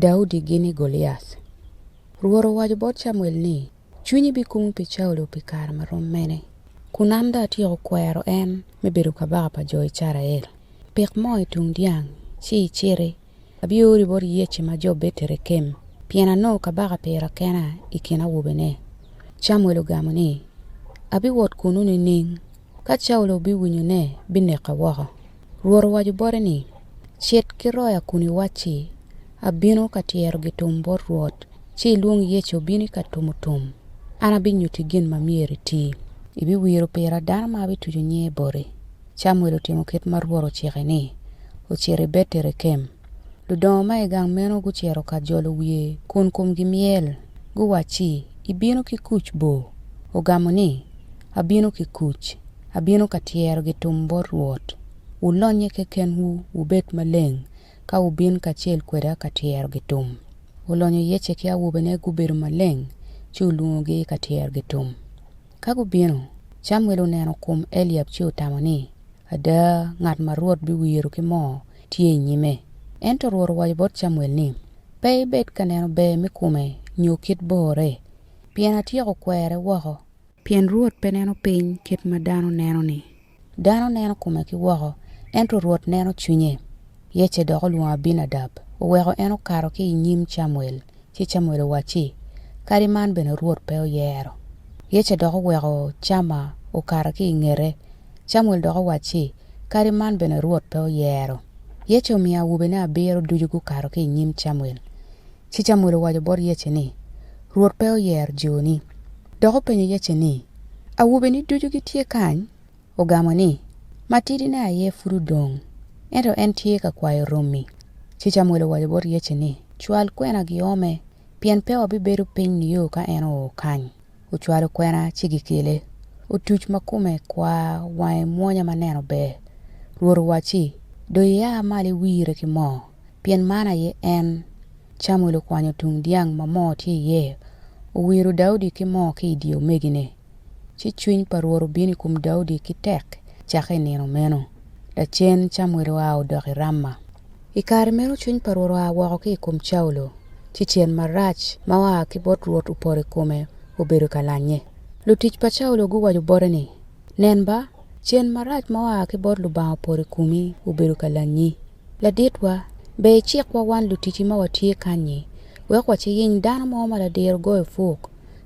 Daudi gini Goliac. Rwot owaco bot Camuel ni, 'Cwinyi bikumo pi Caulo pi kare ma rom mene, kun an dong atyeko kwero en me bedo kabaka pa jo Icrael? Pik moo i tung dyang, ci iciti. Abiori bot Yece ma jo Beterekem, pien anongo kabaka pira kena i kin awobene. Camuel ogamo ni, 'Abiwot kunnu nining? Ka Caulo obiwinyo ne, bineka woko. Rwot owaco bote ni, Cit ki roya kun iwacci, 'Abino ka tyero gitum bot Rwot, ci ilwong Yecu obin i ka tumo tum. An abinyutti gin ma myero iti. Ibiwiro pira dano ma abituco nyinge boti. Camuel otimo kit ma Rwot ocike-ni, ocito i Beterekem. Ludongo ma i gang meno gucito ka jolo wiye kun komgi myel, guwacci, Ibino ki kuc bo? Ogamo ni, Abino ki kuc, abino ka tyero gitum bot Rwot. Wulonnye kekenwu, wubed maleng, ka wubin kacel kweda ka tyero gitum. Olonyo Yece ki awobene gubedo maleng, ci olwongogi i ka tyero gitum. Ka gubino, Camuel oneno kom Eliab ci otamo ni, Ada, ngat ma Rwot biwiro ki moo tye i nyime. Ento Rwot owaco bot Camuel ni, Pe ibed ka neno ber me kome nyo kit bore, pien atyeko kwere woko. Pien Rwot pe neno piny kit ma dano neno-ni. Dano neno kome ki woko, ento Rwot neno cwinye. Yece dok olwongo Abinadab, oweko en okato ki i nyim Camuel, ci Camuel owacci, Kadi man bene Rwot pe oyero. Yece dok oweko Cama okato ki i ngete, Camuel dok owacci, Kadi man bene Rwot pe oyero. Yece omiyo awobene abiro ducu gukato ki i nyim Camuel. Ci Camuel owaco bot Yece ni, Rwot pe oyero joni. Dok openyo Yece ni, Awobeni ducu gitye kany? Ogamo ni, Matidine aye pud odong, ento en tye ka kwayo romi. Ci Camuel owaco bot Yece ni, Cwal kwena giome, pien pe wabibedo piny nio ka en oo kany. Ocwalo kwena ci gikele. Otuc ma kome kwar, wange mwonya ma neno ber. Rwot owacci, Dong ia malo iwire ki moo, pien man aye en. Camuel okwanyo tung dyang ma moo tye iye, owiro Daudi ki moo ki i dye omegine. Ci cwiny pa Rwot obino i kom Daudi ki tek cakke i nino meno. Lacen Camuel oa odok i Rama. I kare meno cwiny pa Rwot oa woko ki i kom Caulo, ci cen marac ma oa ki bot Rwot opoto i kome, obedo ka lanye. Lutic pa Caulo guwaco bote ni, Nen ba, cen marac ma oa ki bot Lubanga opoto i komi, obedo ka lanyi. Laditwa, ber icikwa wan lutici ma watye kanyi, wek waciyiny dano mo ma ladiro goyo puk,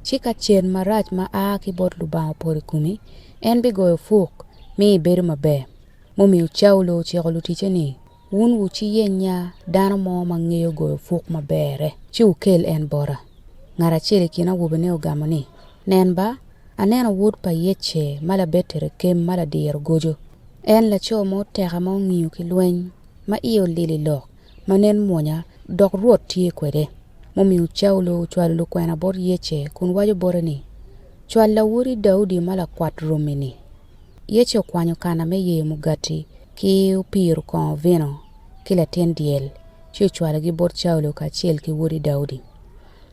ci ka cen marac ma a ki bot Lubanga opoto i komi, en bigoyo puk, mi ibedo maber. mumiyo Caulo ociko luticce ni, Wun wuciyennya dano mo ma ngeyo goyo puk maberre, ci wukel en bota. Ngat acel i kin awobene ogamo ni, Nen ba, aneno wod pa Yece ma labedo i Rekem ma ladiro goco. En laco ma oteka ma ongiyo ki lweny, ma iye olil i lok, ma nen mwonya, dok Rwot tye kwede. Mumiyo Caulo ocwalo lukwena bot Yece kun waco bote ni, Cwal lawoti Daudi ma lakwat romi-ni. Yecu okwanyo kana me yeyo mugati ki opiro kongo vino ki latin dyel, ci ocwalogi bot Caulo kacel ki wodi Daudi.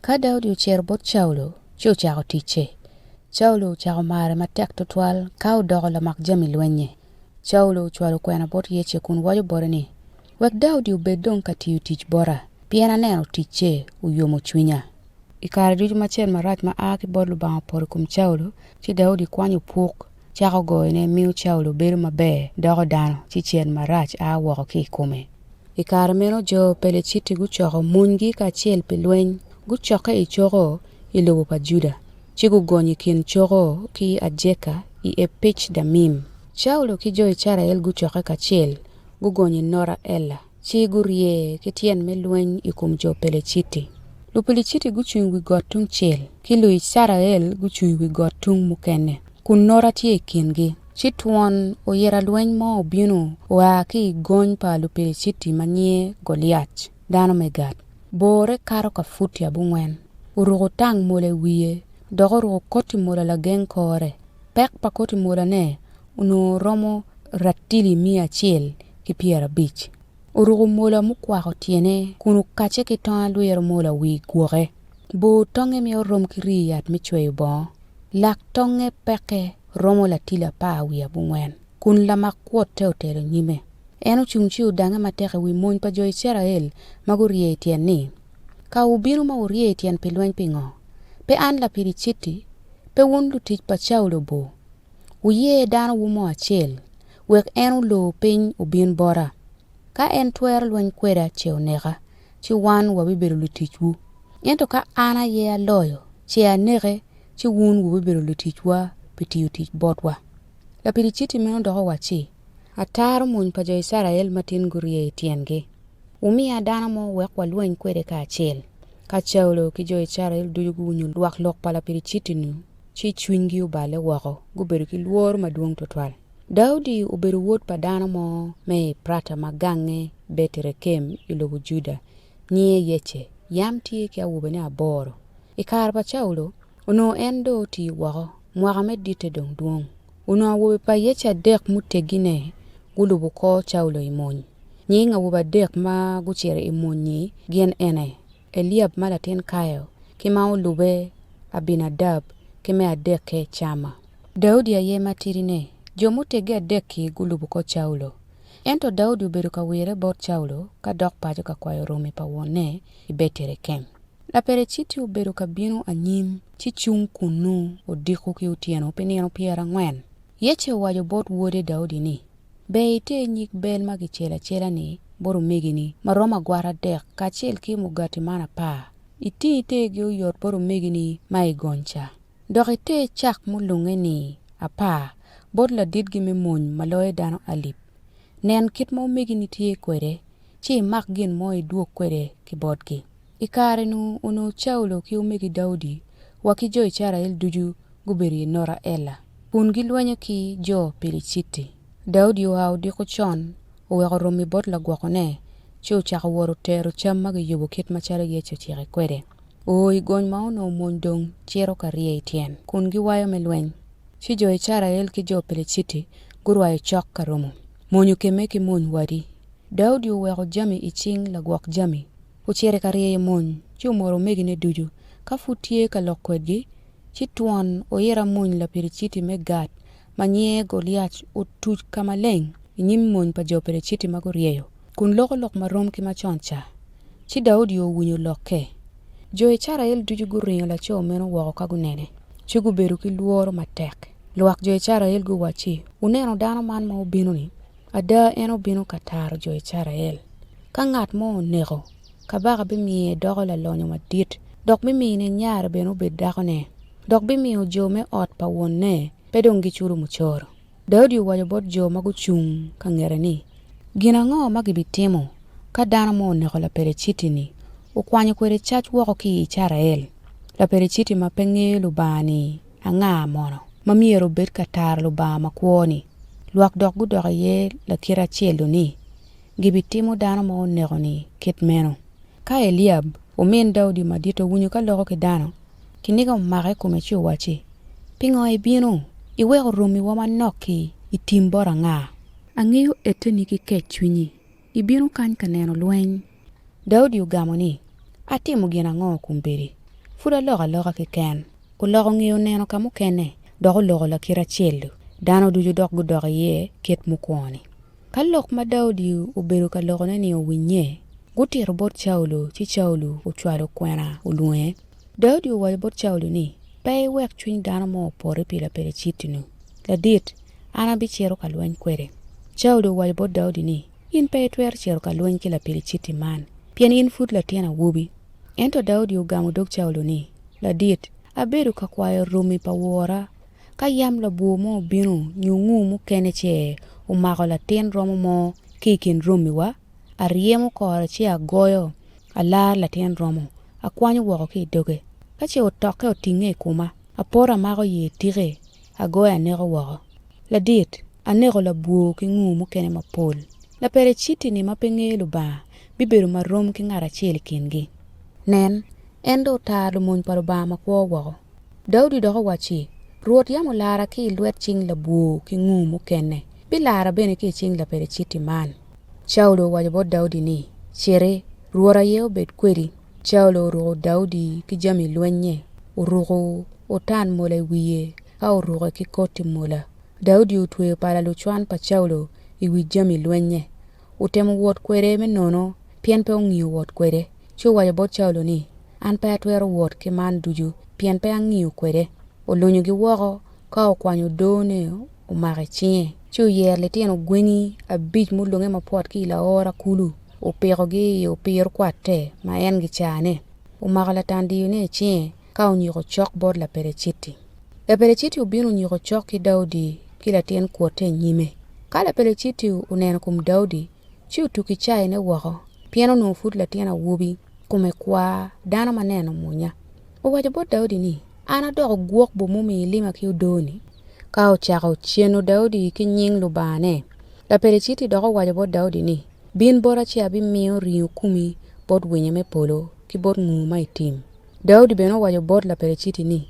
Ka Daudi ocito bot Caulo ci ocako ticce. Caulo ocako mare matek twatwal ka odoko lamak jami lwennye. Caulo ocwalo kwena bot Yecu kun waco bote ni, Wek Daudi obed dong ka tiyo tic bota, pien aneno ticce oyomo cwinya. I kare ducu ma cen marac ma a ki bot Lubanga opoto i kom Caulo, ci Daudi kwanyo puk, cako goyone, miyo Caulo bedo maber, doko dano, ci cen marac a woko ki i kome. I kare meno jo Peleciti gucoko monygi kacel pi lweny, gucokke i coko i lobo pa Juda, ci gugonyo i kin coko ki Ajeka i Epec-damim. Caulo ki jo Icrael gucokke kacel, gugonyo i nota Ella, ci gurye ki tyen me lweny i kom jo Peleciti. Lupeliciti gucung i wi got tungcel, ki Luicrael gucung i wi got tung mukene, kun nota tye i kingi. Ci twon oyita lweny mo obino oa ki i gony pa Lupeliciti ma nyinge Goliac, dano me Gat. Borre kato ka futi abongwen, oruko tang mola i wiye, dok oruko koti mola lageng kore. Pek pa koti molane onongo romo ratili miya acel ki pyerabic. Oruko mola mukwako tyene kun okacce ki tong alwiro mola wi gwoke. Bor tongnge myero orom ki rii yat me cweyo bongo. Lak tongnge pekke romo latili apar wiye abongwen, kun lamak kwotte otelo nyime. En ocung ci odangnge matek i wi mony pa jo Icrael ma gurye i tyen ni, Ka wubino ma wurye i tyen pi lweny pingo? Pe an lapidiciti? Pe wun lutic pa Caulo bo? Wuye dano wu mo acel, wek en olor piny obin bota. Ka en twero lweny kweda ce oneka, ci wan wabibedo luticwu. Ento ka an aye aloyo, ce aneke, ci wun wubibedo luticwa pi tiyo tic botwa. Lapidiciti meno dok owacci, Ataro mony pa jo Icrael matin gurye i tyengi. Wumiya dano mo wek walweny kwede kacel. Ka Caulo ki jo Icrael ducu guwinyo lwak lok pa lapidiciti-nu, ci cwinygi oballe woko, gubedo ki lworo madwong twatwal. Daudi obedo wod pa dano mo me Eprata ma gange Betrekem i lobo Juda, nyinge Yece. Yam tye ki awobene aboro. I kare pa Caulo, onongo en dong oti woko, mwaka me ditte dong dwong. Onongo awobe pa Yece adek mutegine gulubo kor Caulo i mony. Nying awobe adek ma gucito i mony-nyi gin ene, Eliab ma latin Kayo, ki ma olube Abinadab, ki me adekke Cama. Daudi aye matidine. Jo muteggi adek-ki gulubo kor Caulo. Ento Daudi obedo ka wirre bot Caulo ka dok paco ka kwayo romi pa wonne i Beterekem. Lapereciti obedo ka bino anyim ci cung kunnu odiko ki otyeno pi nino pyerangwen. Yece owaco bot wode Daudi ni, Ber iter nyig bel ma kicelo acela-ni bot omegini ma romo agwata adek kacel ki mugati man apar, iting itergi oyot bot omegini ma i gony ca. Dok iter cak mulunge-ni apar bot laditgi me mony ma loyo dano alip. Nen kit ma omegini tye kwede, ci imak gin mo idwog kwede ki botgi. I kare-nu onongo Caulo ki omegi Daudi wa ki jo Icrael ducu gubedo i Nota Ella kun gilwenyo ki jo Piliciti. Daudi oa odiko con, oweko romi bot lagwokone, ci ocako wot otero cam ma giyubo kit macalo Yecu ocike kwede. O i gony ma onongo mony dong cito ka rye i tyen kun giwayo me lweny, ci jo Icrael ki jo Piliciti gurwayo cok ka romo monyo kemme ki mony wadi. Daudi oweko jami i cing lagwok jami Ocito ka ryeyo mony, ci omoro omegine ducu. Ka pud tye ka lok kwedgi, ci twon oit amwony Lapericiti me Gat ma nyinge Goliac otuc ka maleng i nyim mony pa jo Periciti ma guryeyo, kun loko lok ma rom ki macon ca. Ci Daudi owinyo lokke. Jo Icrael ducu guringo laco meno woko ka gunene, ci gubedo ki lworo matek. Lwak jo Icrael guwacci, Wuneno dano man ma obino-ni? Ada, en obino ka taro jo Icrael. Ka ngat mo oneko, kabaka bimiyo edoko lalonyo madit, dok bimine nyare bene obed dakone, dok bimiyo jo me ot pa wonne pe dong giculo mucoro. Daudi owaco bot jo ma gucung ka ngete ni, Gin ango ma gibitimo ka dano mo oneko Lapeleciti-ni, okwanyo kwede cac woko ki i Icrael? Lapeleciti ma pe ngeyo Lubanga-ni Anga mono ma myero obed ka taro Lubanga makwo-ni? Lwak dok gudok iye lakite acel-lu ni, Gibitimo dano ma oneko-ni kit meno. Ka Eliab, omin Daudi madit owinyo ka loko ki dano, kiniga omake i kome ci owacci, Pingo ibino? Iweko romiwa manok-ki i tim bot anga? Angeyo eteni ki kec cwinyi. ibino kany ka neno lweny. Daudi ogamo ni, Atimo gin ango kombeddi? Pud aloko aloka keken. Oloko ngeye oneno ka mukene, dok oloko lakite acel-lu. Dano ducu dok gudok iye kit mukwoni. Ka lok ma Daudi obedo ka lokone-ni owinnye, gutito bot Caulo, ci Caulo ocwalo kwena olwonge. Daudi owaco bot Caulo ni, Pe iwek cwiny dano mo opoti pi Lapelicitinu. Ladit, an abicito ka lweny kwede. Caulo owaco bot Daudi ni, In pe itwero cito ka lweny ki Lapeliciti man, pien in pud latin awobi. Ento Daudi ogamo dog Caulo ni, Ladit, abedo ka kwayo romi pa wora, ka yam labwor mo obino nyo ngur mukene ce omako latin romo mo ki i kin romiwa, aryemo kore ci agoyo, alaro latin romo, akwanyo woko ki i doge. Ka ce otokke otinge i koma, apoto amako ye tike, agoye aneko woko. Ladit, aneko labwor ki ngur mukene mapol. Lapeleciti-ni ma pe ngeyo Lubanga bibedo ma rom ki ngat acel i kingi. Nen, en dong otaro lumony pa Lubanga makwo woko. Daudi dok owacci, Rwot yam olara ki i lwet cing labwor ki ngur mukene, bilara bene ki i cing Lapeleciti man. Caulo owaco bot Daudi ni, Citi, Rwot aye obed kwedi. Caulo oruko Daudi ki jami lwennye, oruko otan mola i wiye ka oruke ki koti mola. Daudi otweyo pala lucwan pa Caulo i wi jami lwennye. Otemo wot kwede me nono, pien pe ongiyo wot kwede. Ci owaco bot Caulo ni, An pe atwero wot ki man ducu, pien pe angiyo kwede. Olunyogi woko ka okwanyo odone. omako i cinge ci oyero litino gwenyi abic ma olunge mapwot ki i laora kulu opikogi i opiro kwatte ma en gicane omako latandiyone i cinge ka onyiko cok bot Lapeleciti. Lapeleciti obino onyiko cok ki Daudi ki latin kwotte i nyime. Ka Lapeleciti oneno kom Daudi, ci otuko i caine woko, pien onongo pud latin awobi, kome kwar, dano ma nene omwonya. Owaco bot Daudi ni, 'An adoko gwok bo mumi ilima ki odoo-ni? Ka ocako ceno Daudi ki nying Lubangane, Lapeliciti dok owaco bot Daudi ni, 'Bin bota ci abimiyo ringo kumi bot winyo me polo ki bot nguu ma i tim. Daudi bene owaco bot Lapeliciti ni,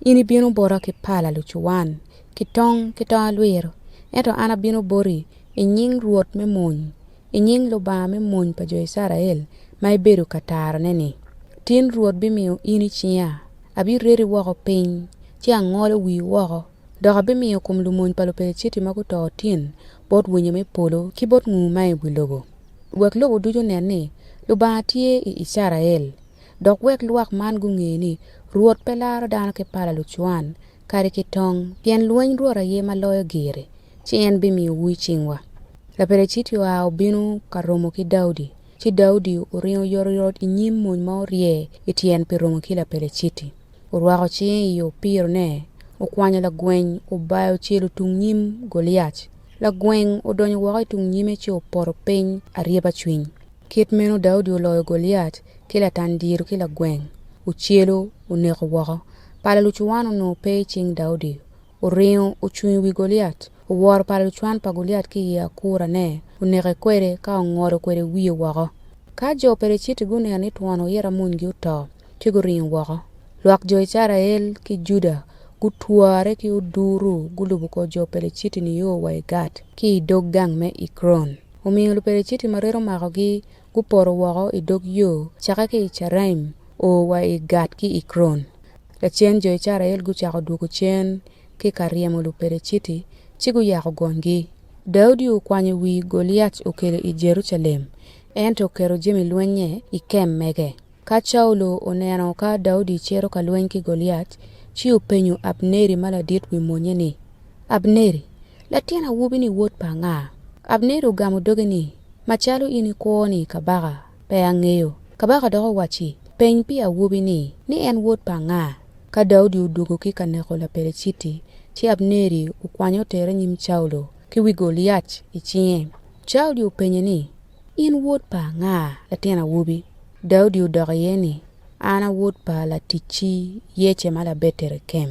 'In ibino bota ki pala lucuwan, ki tong, ki tong alwiro, ento an abino boti i nying Rwot me mony, i nying Lubanga me mony pa jo Icrael ma ibedo ka tarone-ni, tin Rwot bimiyo in i cinga, abireti woko piny, ci angolo wii woko, dok abimiyo kom lumony pa Lupeliciti ma guto otin bot winyo me polo ki bot nguu ma i wi lobo, wek lobo ducu onen ni Lubanga tye i Icrael, dok wek lwak man gunge ni Rwot pe laro dano ki pala lucwan, kadi ki tong, pien lweny Rwot aye ma loyo giri, ci en bimiyowu i cingwa. Lapeleciti oa obino ka romo ki Daudi, ci Daudi oringo oyotoyot i nyim mony ma orye i tyen pi romo ki Lapeleciti. Orwako cinge i opirone, okwanyo lagweny, obayo ocelo tung nyim Goliac. Lagweny odonyo woko i tung nyime ci opoto piny aryeba cwiny. Kit meno Daudi oloyo Goliac ki latandiro ki lagweny, ocelo oneko woko. Pala lucuwan onongo pe i cing Daudi, oringo ocung i wi Goliat, oworo pa lucwan pa Goliat ki i akurane, oneke kwede ka ongolo kwede wiye woko. Ka jo Peleciti guneno ni twon oyito amunygi oto, ci guringo woko. Lwak jo Icrael ki Juda gutwore ki oduru gulubo kor jo Peleciti nio wa i Gat ki i dog gang me Ekron. Omiyo Lupeleciti ma reta omakogi Gupoto woko i dog yo cake ki i Caraim o wa i Gat ki Ekron. Lacen jo Icrael gucako dwogo cen ki ka ryemo Lupeleciti, ci guyako gonygi. Daudi okwanyo wi Goliac okelo i Jerucalem, ento oketo jami lwennye i kem mege. Ka Caulo oneno ka Daudi cito ka lweny ki Goliat, ci openyo Abneri ma ladit wi monnye ni, Abneri, latin awobi-ni wod pa nga? Abneri ogamo doge ni, Macalo in ikwo ni kabaka, pe angeyo. Kabaka dok owacci, Peny pi awobi-ni, ni en wod pa nga. Ka Daudi odwogo ki ka neko Lapeleciti, ci Abneri okwanyo otere nyim Caulo ki wi Goliat i cinge. Daudi openye ni, In wod pa anga, latin awobi? Daudi odok iye ni, An a wod pa laticci Yece ma Labetlekem.